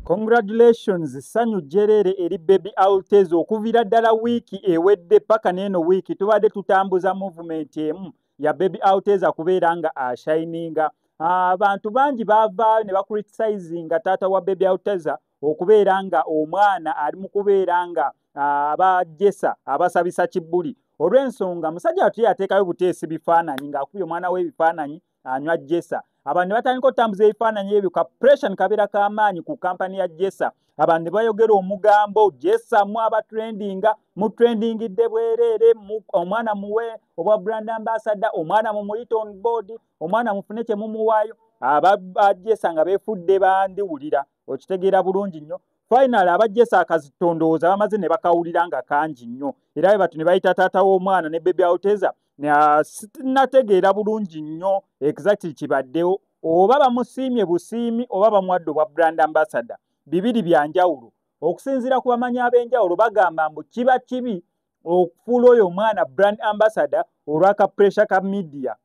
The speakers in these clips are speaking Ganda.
Congratulations sanyu jerere eri baby Altez okuvira ddala wiiki ewedde paka neeno wiiki tubadde tutambuza movement emu ya baby Altez akubeera nga ashininga abantu bangi bavaayo ne bakuritisayizinga taata wa baby Altez okubeera nga omwana ali mu kubeera nga abajesa abasabisa kibbuli olw'ensonga musajja watu yateekayo buteesi bifaananyi ng'akubye omwana w'ebifaananyi anywa jesa abantu ne batandika okutambuza ebifaananyi ebyo ka pression kabeera k'amaanyi ku kampani ya jesa abantu ne bayogera omugambo jesa mu abatrendinga mu trendingidde bwereere omwana muwe obwa brand ambassador omwana mu muyite on board omwana mufune kye mumuwaayo abajesa nga befudde bandiwulira okitegeera bulungi nnyo finally abajjesa akazi tondowooza bamaze ne bakawulira nga kangi nnyo era bwe batu ne bayita taata w'omwana ne bebi auteza uh, sinategeera bulungi nnyo exactly kibaddewo oba bamusiimye busiimi oba bamuwadde obwa brand ambassador bibiri bya njawulo okusinziira ku bamanyi ab'enjawulo bagamba mbu kiba kibi okufuula oyo omwana brand ambassador olwaka pressure ka midiya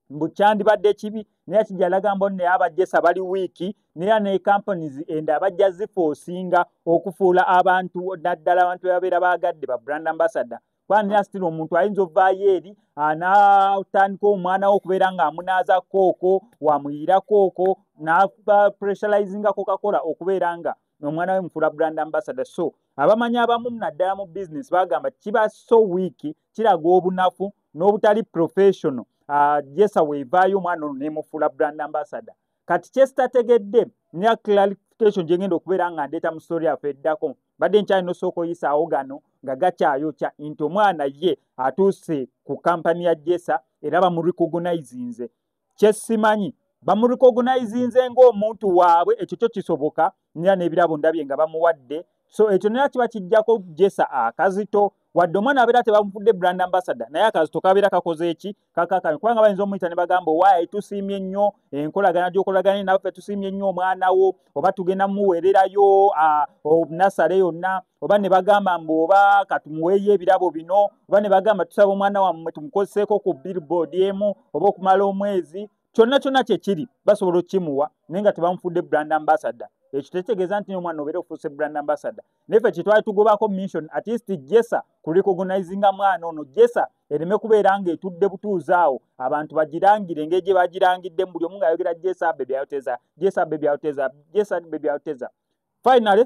mbu kyandibadde kibi naye kijja laga mbo ne abajesa bali wiiki naye ne companies enda abajja zifa osinga okufuula abantu naddala abantu ababeera baagadde ba brand ambassador kwani asitira omuntu ayinza ovaayo eri anatandika omwana wo okubeera ng'amunaaza kooko wamuyiira kooko nakuba pressurizingako kakola okubeera nga omwana we mukula brand ambassador so abamanyi abamu naddala mu business bagamba kiba so wiiki kiraga obunafu n'obutali professional ah, jesa weevaayo omwana ono nemufuula brand ambassador kati kyesitategedde nya clarification gyengenda okubeera nga ndeeta mu story yaffe eddako mbadde nkyali nosooka oyisaawo gano nga gakyayokya nti omwana ye atuuse ku kampani ya jesa era bamurecognizinze kyesimanyi bamurecognizinze ngaomuntu waabwe ekyo kyo kisoboka nera nebirabo ndabye nga bamuwadde so ekyo nera kiba kijjako jesa akazito wadde omwana abeera tebamufudde brand ambassador naye akazito kabeera kakoze eki kakakami kubanga bayinza omuyita ne bagamba owaayi tusiimye nnyo enkolagana gyokolagana nawe fe tusiimye nnyo omwana wo oba tugenda muweererayo nasale yonna oba ne bagamba mbu oba katumuweeyo ebirabo bino oba ne bagamba tusaba omwana wammwe tumukozeseeko ku billboard emu oba okumala omwezi kyonna kyonna kyekiri basobola okukimuwa naye nga tebamufudde brand ambassador ekyo tekitegeeza nti omwana obeera ofuuse brand ambassador naye fe kyetwali tugobako mission at least jesa ku recognizinga mwana ono jesa ereme kubeera nga etudde butuuzi awo abantu bagirangire engeri gye bagirangidde buli omu ngaayogera jesa bebyayoteza jesa bebyayoteza jesa bebyayoteza finally